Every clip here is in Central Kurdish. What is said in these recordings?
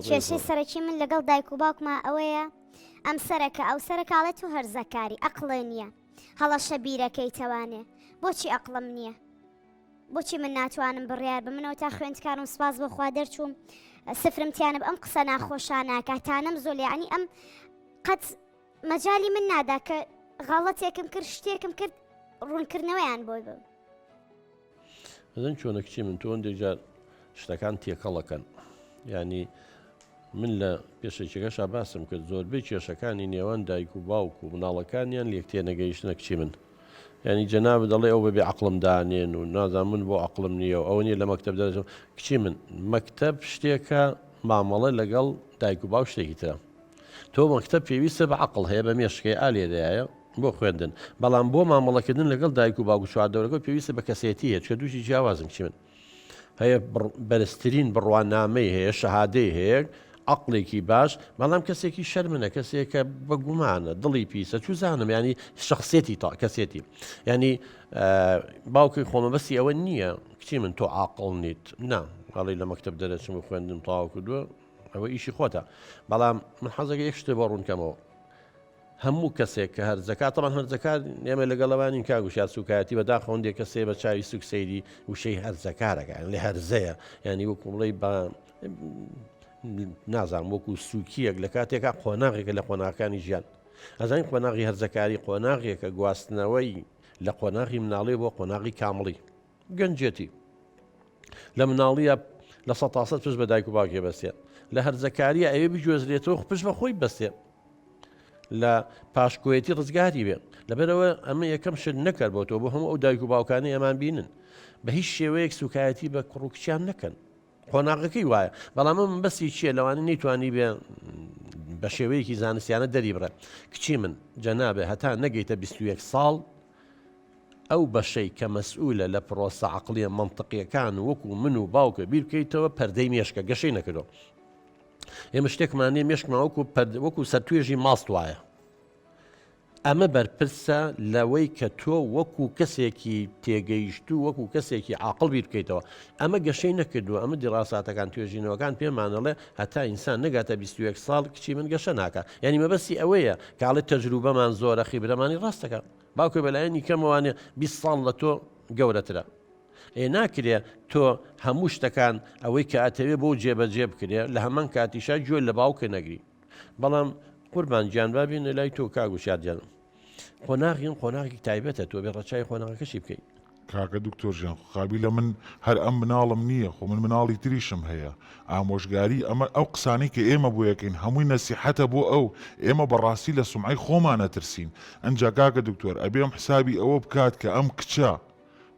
کێشەی سەرەکی من لەگەڵ دایک و باوکما ئەوەیە ئەم سەرەکە ئەو سەرکاڵێت و هەرزەکاری ئەقلێ نییە هەڵەشە بیرەکەی تەوانێ بۆچی ئەقلم نییە بۆچی من ناتوانم بڕیار بە منەوە تا خوێندکارم سپاس بۆخوا دەرچووم سفرم تیانە ئەم قسە ناخۆشانەکە تانەم زۆلیانی ئەم قەت مەجای من نادا کە غاڵەتێکم کرد شتێکم کرد ڕوونکردنەوەیان بۆی بم بزن چۆنە کچی من تۆ هەندێک جار شتەکان تێکەڵەکەن ینی من لە پێشێکەکەشا باسم کرد زۆربەی کێشەکانی نێوان دایک و باوک و مناڵەکانیان لێک تێنەگەیشتە کچی من ینی جەناب دەڵێ ئەو بەبێ عقلم دانێن و نازان من بۆ عقلم نییە و ئەو نیە لە مەکتب دەژم کچی من مەکتب شتێکە مامەڵە لەگەڵ دایک و باو شتێکی ترە تۆ مەکتەب پێویستە بە عەقڵ هەیە بە مێشکەیە ئا لێرەیایە بۆ خوێندن بەڵام بۆ مامەڵەکردن لەگەڵ دایک و باوک و چواردەورەکە پێویستە بە کەسێتی هەیە چکە دووشی جیاوازن چی من هەیە بەرزترین بڕوانامەی هەیە شەهادەی هەیە عقلێکی باش بەڵام کەسێکی شەرمنە کەسێکە بە گومانە دڵی پیسە چوزانم ینی شخصێتی تا کەسێتی ینی باوکی خۆمەبەستی ئەوە نییە کچی من تۆ عقل نیت نا هەڵی لە مەکتب دەرەچم و خوێندم تاوا کردووە ئەوە ئیشی خۆتە بەڵام من حەزەکە یەک شتێ بۆ ڕوونکەمەوە هەموو کەسێک کە هەرزەکە تەمان هەرزەکار ئێمە لەگەڵەوانی کا گوشار سوکایەتی بەدا خۆندێ کەسێ بە چاوی سوک سەیری وشەی هەرزەکارەکە لە هەرزەیە ینی وەکو بڵی بە نازان وەکو سوکیەک لە کاتێکا قۆناغێکە لە قۆناغەکانی ژیان ئەزان قۆناغی هەرزەکاری قۆناغێکە گواستنەوەی لە قۆناغی مناڵێ بۆ قۆناغی کامڵی گەنجێتی لە مناڵیە لە سە تاسە پشت بە دایک و باوکێ بەستێ لە هەرزەکاریە ئەوێ بگوێزرێتەوە پشت بە خۆی بەستێ لە پاشکۆیەتی ڕزگاری بێ لەبەرەوە ئەمە یەکەم شت نەکرد بۆ تۆ بۆ هەموو ئەو دایک و باوکانی ئەمان بینن بە هیچ شێوەیەک سوکایەتی بە کوڕ و کچیان نەکەن قۆناغەکەی وایە بەڵام ئەم بەسی چییە لەوانی نەیتوانی بێ بە شێوەیەکی زانستیانە دەری بڕێ کچی من جەنابێ هەتا نەگەیتە 21 ساڵ ئەو بەشەی کە مەسئولە لە پرۆسە عقلیە منطقیەکان وەکو من و باوکە بیرکەیتەوە پەردەی مێشکە گەشەی نەکردو ئێمە شتێکمانێ مێشکماوەکو وەکو سەر توێژی ماست وایە ئەمە بەرپرسە لەوەی کە تۆ وەکو کەسێکی تێگەیشتوو وەکو کەسێکی عاقڵ بیر بکەیتەوە. ئەمە گەشەی نەکردووە، ئەمە دیڕاساتەکان توێژینەوەکان پێمان ئەڵێ هەتا ئینسان نەگاتە بیست و یەک ساڵ کچی من گەشە ناکا. یانی مەبەستی ئەوەیە کە ئەڵێ تەجروبەمان زۆرە خیبرەمانی ڕاست دەکا. باوکێ بەلایەنی کەمەوانێ بیست ساڵ لە تۆ گەورەترە. ئێ ناکرێ تۆ هەموو شتەکان ئەوەی کە ئەتەوێ بۆ جێبەجێ بکرێ لە هەمان کاتیشا گوێ لە باوکێ نەگری. بەڵام قوربان گیان با بێنە لای تۆ کاک وشیار گیان قۆناغی ئەم قۆناغێکی تایبەتە تۆ بێ ڕەچاوی قۆناغەکەشی بکەیت کاکە دکتۆر گیان خۆ قابیلە من هەر ئەم مناڵم نییە خۆ من مناڵی تریشم هەیە ئامۆژگاری ئەمە ئەو قسانەی کە ئێمە بۆی ئەکەین هەمووی نەسیحەتە بۆ ئەو ئێمە بەڕاستی لە سومعەی خۆمان ئەترسین ئەنجا کاکە دکتۆر ئەبێ ئەم حسابی ئەوە بکات کە ئەم کچە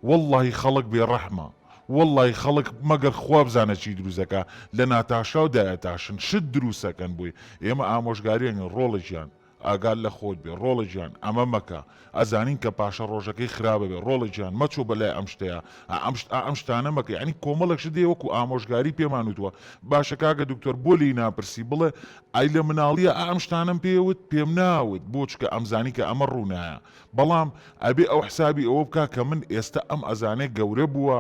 وەڵڵاهی خەڵک بێ ڕەحمە وەڵڵاهی خەڵک مەگەر خوا بزانە چی دروست دەکا لە ناتاشاو دایەتاشن شت دروست ئەکەن بۆی ئێمە ئامۆژگاری ئەکەن ڕۆڵە گیان ئاگات لە خۆت بێ ڕۆڵە گیان ئەمە مەکە ئەزانین کە پاشە ڕۆژەکەی خراپ ئەبێ ڕۆڵە گیان مەچۆ بە لای ئەم شتەیا ئەم شت ئەم شتانە مەکە یانی کۆمەڵێک شت هەیە وەکو ئامۆژگاری پێمان وتوە باشە کاکە دکتۆر بۆ لێی ناپرسی بڵێ ئەی لە مناڵییا ئەم شتانەم پێ وت پێم ناوت بۆ چکە ئەمزانی کە ئەمە ڕوونایە بەڵام ئەبێ ئەو حسابی ئەوە بکا کە من ئێستا ئەم ئەزانێ گەورە بووە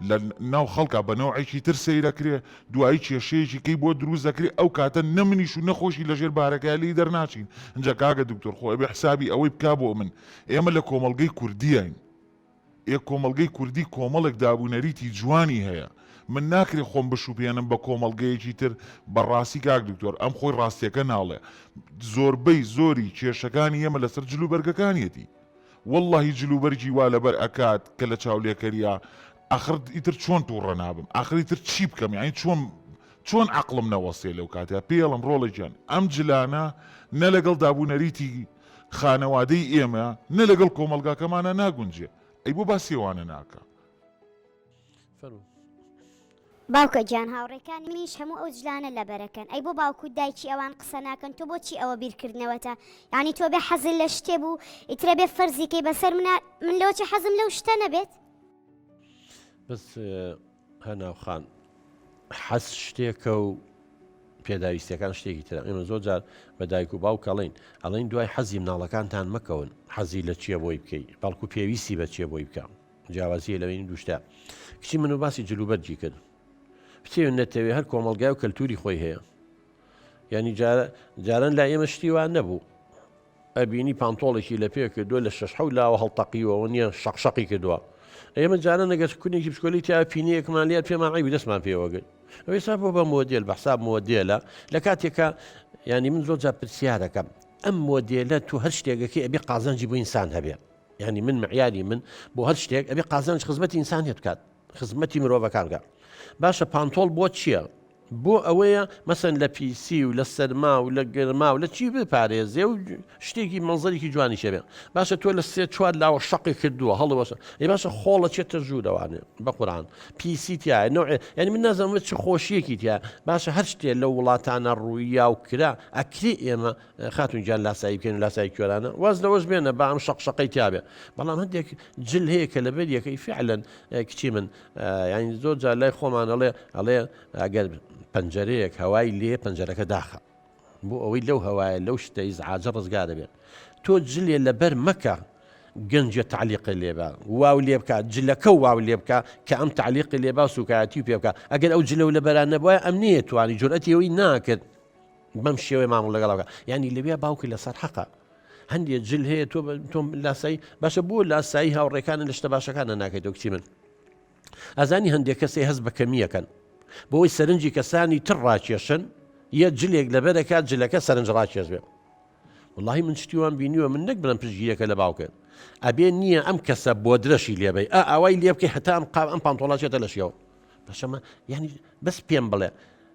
لە ناو خەڵکا بە نەوعێکی تر سەیرەکرێ، دوایی کێشەیەکی کەی بۆ دروست دەکرێ، ئەو کاتە نە منیش و نە خۆشی لە ژێر بارەکەیا لێی دەرناچین، ئنجا کاکە دکتۆر خۆ ئەبێ حسابی ئەوەی بکا بۆ من ئێمە لە کۆمەڵگەی کوردیین، ئێ کۆمەڵگەی کوردی کۆمەڵێک داب و نەریتی جوانی هەیە من ناکرێ خۆم بشوبهێنم بە کۆمەڵگەیەکی تر بە ڕاستی کاک دکتۆر ئەم خۆی ڕاستیەکە ناڵێ زۆربەی زۆری کێشەکانی ئێمە لەسەر جل و بەرگەکانیەتی وەڵڵاهی جل و بەرگی وا لەبەر ئەکات کە لە چاولێکەریا ئاخر ئیتر چۆن تووڕە نابم ئاخر ئیتر چی بکەم یانی چۆن چۆن عەقڵم نەوەستێ لەو کاتەیا پێڵم ڕۆڵێکیان ئەم جلانە نە لەگەڵ داب و نەریتی خانەوادەی ئێمە نە لەگەڵ کۆمەڵگاکەمانا ناگونجێ ئەی بۆ باسی ئەوانە ناکا. فەرموو. باوکە گیان هاوڕێکانی منیش هەموو ئەو جلانە لەبەرەکەن ئەی بۆ باوکوت دایکی ئەوان قسە ناکەن تۆ بۆچی ئەوە بیرکردنەوەتە یعنی تۆ بێ حەزل لە شتێ بوو ئیترە بێ فەرزیکەی بەسەر منە من لەوەچی حەزم لەو شتە نەبێت بەس هەناو خان، حەز شتێکە و پێداویستیەکان شتێکی ترە، ئێمە زۆر جار بە دایک و باوک ئەڵێین، ئەڵێن دوای حەزی مناڵەکانتان مەکەون، حەزی لە چیە بۆی بکەی، بەڵکو پێویستی بە چیە بۆی بکە. جیاوازیە لە بینی دووشتە. کچی من و باسی جل و بەرگی کرد. بتەوێ نەتەوێ هەر کۆمەڵگای و کەلتوری خۆی هەیە. یانی جاران لای ئێمە شتی وا نەبوو. ئەبینی پانتۆڵێکی لە پێ کردووە لە شەش حەوت لاوە هەڵتەقیوەوە نییە شەق شەقی کردووە ئێمە جارە نەگەس کونێکی بچکۆلی تیا پینەیەکمان لات پێمان عیبی دەستمان پێوەگرت ئەوەی سا بۆ بە مۆدیل بە حساب مۆدیلە لە کاتێکە ینی من زۆر جا پرسیارەکەم ئەم مۆدیلە تو هەر شتێکەکەی ئەبێ قازانجی بۆ ئینسان هەبێ ینی من معیاری من بۆ هەر شتێک ئەبێ قازانج خزمەتی ئینسانیت بکات خزمەتی مرۆڤەکان بکا باشە پانتۆڵ بۆ چییە؟ بۆ ئەوەیە مەسەن لە پیسی و لە سەرما و لە گەرما و لە چی بپارێزێ و شتێکی مەنزەرێکی جوانی شێبێ باشە تۆ لە سێ چوار لاوە شەقی کردووە هەڵوەشە ی باشە خۆڵە چێتە ژوورەوانێ بە قورآان پیسی تایە نوێ یعنی من نازەمە چ خۆشیەکی تیا باشە هەر شتێ لە وڵاتانە ڕوویا و کرا ئەکری ئێمە خاتون گیان لاسایی بکەن و لاسایی کوێرانە واز لەوەش بێنە با ئەم شەق شەقەی تیابێ بەڵام هەندێک جل هەیە کە لەبەر یەکەی فعلەن کچی من یعنی زۆر جار لای خۆمانەڵێ ئەڵێ ئەگەر پەنجەرەیەک هەوای لێ پەنجەرەکە داخە بۆ ئەوەی لەو هەوایە لەو شتەی زعاجە ڕزگا دەبێت تۆ جلێ لەبەر مەکە گەنجە تعلیقی لێبا واو لێ بکە جلەکە و واو لێ بکە کە ئەم تعلیقی لێبا سوکایەتی و پێ بکە ئەگەر ئەو جلە و لە بەران نەبووە ئەم نیە توانی جورئەتیەوەی ناکرد بەم شێوەی مامڵ لەگەڵاوگە ینی لەویا باوکە لەسەر حەقە هەندێک جل هەیە تۆ تۆم لاسایی باشە بۆ لاسایی هاوڕێکانە لە شتە باشەکانە ناکەیت وەکچی من ئازانی هەندێک کەسێ هەست بە کەمیەکەن بۆی سەرنجی کەسانی تر ڕاکێشن یە جلێک لەبەرەکە جلەکە سەرنج ڕاکێش بێت واللهی من شتیوان بینیوە من نەک بڵم پشگیرەکە لە باوکرد ئەبێ نییە ئەم کەسە بۆ درەشی لێبی ئا ئاوای لێ بکەی هەتام قام ئەم پانتۆڵاچێتە لە شێەوە بەشەمە ینی بەس پێم بڵێ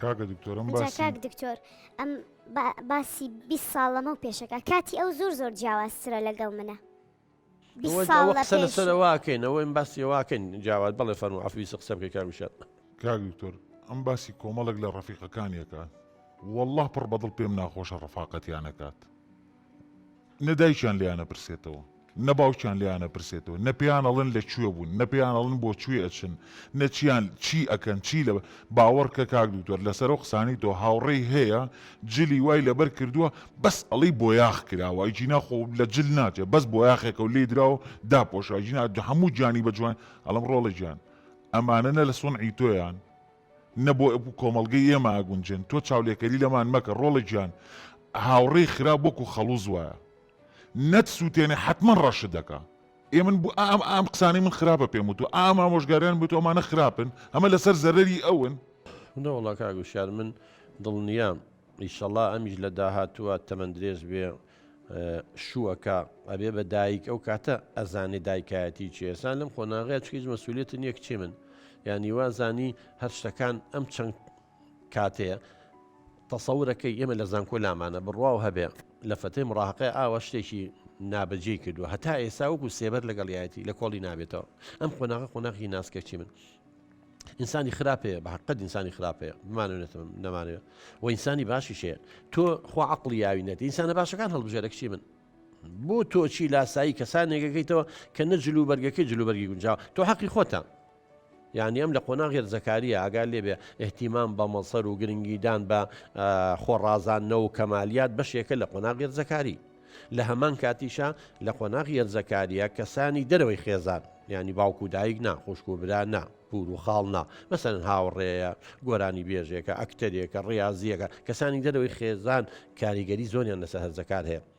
کاکە دکتۆرم جا باسی کاک دکتۆر ئەم با- باسی 20 ساڵ لەمە و پێشەکە کاتی ئەو زۆر زۆر جیاوازترە لەگەڵ منە 20 ئەوە ساڵ ئەوە لە قسە پێش لەسەر واکەین ئەوە ئەم باسی واکەین جاوات بەڵێ فەرمو عفویسە قسە بکەی کاک وشار کاک دکتۆر ئەم باسی کۆمەڵێک لە ڕەفیقەکانیەکە والله پڕ بەدڵ پێم ناخۆشە ڕەفاقەتیان ئەکات نە دایکیان لێیان ئەپرسێتەوە نە باوکیان لێیان ئەپرسێتەوە نە پێیان ئەڵێن لە کوێ بوون نە پێیان ئەڵێن بۆ کوێ ئەچن نە چیان چی ئەکەن چی لە باوەڕکە کاک دوکتۆر لەسەر ئەو قسانەی تۆ هاوڕێی هەیە جلی وای لەبەر کردووە بەس ئەڵێی بۆیاخ کراوە ئەیجینا خۆ لە جل ناچێ بەس بۆیاخێکە و لێی دراو داپۆشا ئەیجینا هەموو گیانی بە جوان ئەڵێم ڕۆڵە گیان ئەمانە نە لە سونعی تۆیان نە بۆ کۆمەڵگەی ئێمە ئاگونجێن تۆ چاولێکەری لەمان مەکە ڕۆڵە گیان هاوڕێی خراپ وەکو خەڵوز وایە نەت سووتێنێ حتمما ڕەشت دەکا ئێ من بو ئام ئام قسانەی من خراپە پێم وتو ئام ئامۆژگاریان بێت ئەمانە خراپن ئەمە لەسەر زەرەری ئەون نەوەڵا کاک وشیار من دڵنیام ئیشەڵا ئەمیش لە داهاتووە تەمەندرێژ بێ شووە کە ئەبێ بە دایک ئەو کاتە ئەزانێ دایکایەتی چی ئێسان لەم قۆناغەیە چ هیچ مەسوولێتن یەک چی من یانی وازانی هەر شتەکان ئەم چەند کاتەیە تەسەورەکەی ئێمە لە زانکۆ لامانە بڕوا و هەبێ لە فەتەی مڕاقی ئاوە شتێکی نابەجێ کردووە هەتا ئێستا وەکو سێبەر لەگەڵیایەتی لە کۆڵی نابێتەوە ئەم قۆناغە قۆناغی ناسکەچی من ئینسانی خراپەیە بە حقت ئینسانی خراپەیە بمانێتم نەمانێ و ئینسانی باشی شەیە تۆ خوا عقلی یاوی نەێت ئینسانە باشەکان هەڵبژێرە کچی من بۆ تۆچی لاسایی کەسانێکەکەیتەوە کە نە جلو بەرگەکەی جلوبەرگی گونجاو تۆ حەقی خۆتە یعنی ئەم لە قۆنا غێر زەکاریە ئاگال لێبێ احتیمام بە مەڵسەر و گرنگیدان بە خۆڕازاننە و کەمالیات بەشێکە لە قۆنا غێر زەکاری لە هەمان کاتیشا لە قۆناغی هەرزەکاریە کەسانی دەرەوەی خێزان ینی باوک و دایک نا خوشک و برا نا پور و خاڵ نا مەسەن هاوڕێیە گۆرانی بێژێکە ئەکتەرێکە ڕاضیەکە کەسانی دەرەوەی خێزان کاریگەری زۆریان لەسەر هەرزەکار هەیە